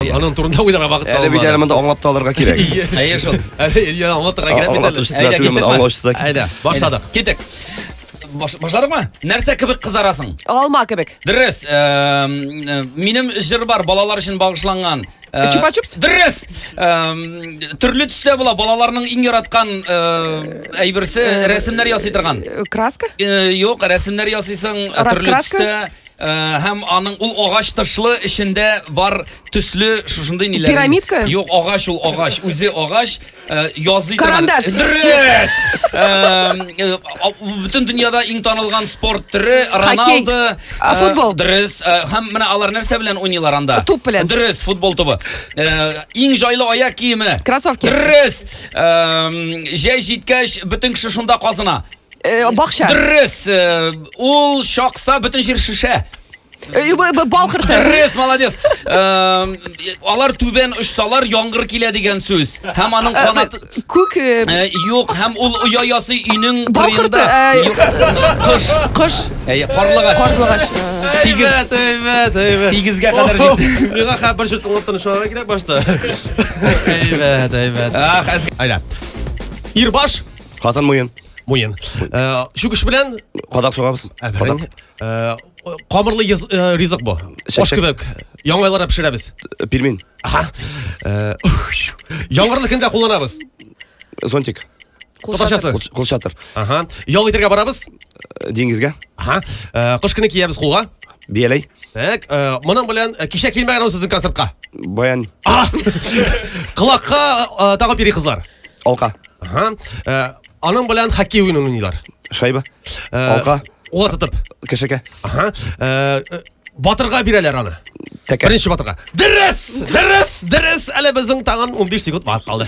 Аның турында уйларга вакыт Әле бит әле монда аңлап та алырга кирәк. Әйе шул. Әле я аңлатырга кирәк бит әле. Әйдә, Әйдә, киттек. аңлаучы да кит- Әйдә, башладык. Китек. Баш- Башладыкмы? Нәрсә кебек кызарасың? Алма кебек. Дөрес. Эм, э, Минем җыр бар балалар өчен багышланган. Э, Чупа-чупс? Дөрес. Эм, Төрле төстә була балаларның иң яраткан э, әйберсе рәсемнәр ясый торган. Э, Краска? Э, Юк, рәсемнәр ясыйсың э, төрле Раскраска? төстә. Һәм аның ул агач тышлы, эчендә бар төсле шушындый ниләр. Пирамидка? Юк, агач ул агач, үзе агач, язый Карандаш. Дөрес. Бүтән дөньяда иң танылган спорт төре Роналдо. Футбол. Дөрес. Һәм менә алар нәрсә белән уйныйлар анда? Туп белән. Дөрес, футбол тубы. Иң җайлы аяк киеме? Кроссовки. Дөрес. Җәй җиткәч, бүтән кеше шунда казына. Э, бакча. Дөрес. Э, ул шакса бөтен җир шешә. Э, бал кырты. Дөрес, молодец. Э, алар түбән очсалар, яңгыр килә дигән сүз. Һәм аның э, канаты күк юк, һәм ул оя ясый өйнең кырында. Кыш. Кыш. Әй, карлыгач. Карлыгач. Сигез. Әйбәт, әйбәт. Сигезгә кадәр җитте. Миңа хәбәр бер җөт аңлап тынычланырга кирәк башта. Әйбәт, әйбәт. Ах, әз. Айда. Ирбаш. Хатын муен. Муен. Э, Чүкеш белән Кадак сугабыз. Әберәң. Э, Камырлы йыз- э, ризык бу. Аш Чәчәк. кебек. Яңайлар да пешерәбез. Пельмень. Аха. Э, ух, Яңгырлы көндә кулланабыз. Зонтик. Татарчасы. Кул- Кул шатыр. Аха. Ял итәргә барабыз. Э, Диңгезгә. Аха. Э, Кыш көне киябез кулга. Бияләй. Так, э, моның белән э, кичә килмәгән ул сезнең концертка. Баян. А! Колакка э, тагып йөри кызлар. Алка. Ага. Ә, аның белән хоккей уенын уйныйлар. Шайба. Ә, Алка. Ула тотып. Кешекә. Ага. Ә, Батырга бирәләр аны. Тәкә. Беренче батырга. Дөрес! Дөрес! Дөрес! Әле безнең тагын 15 секунд бар калды.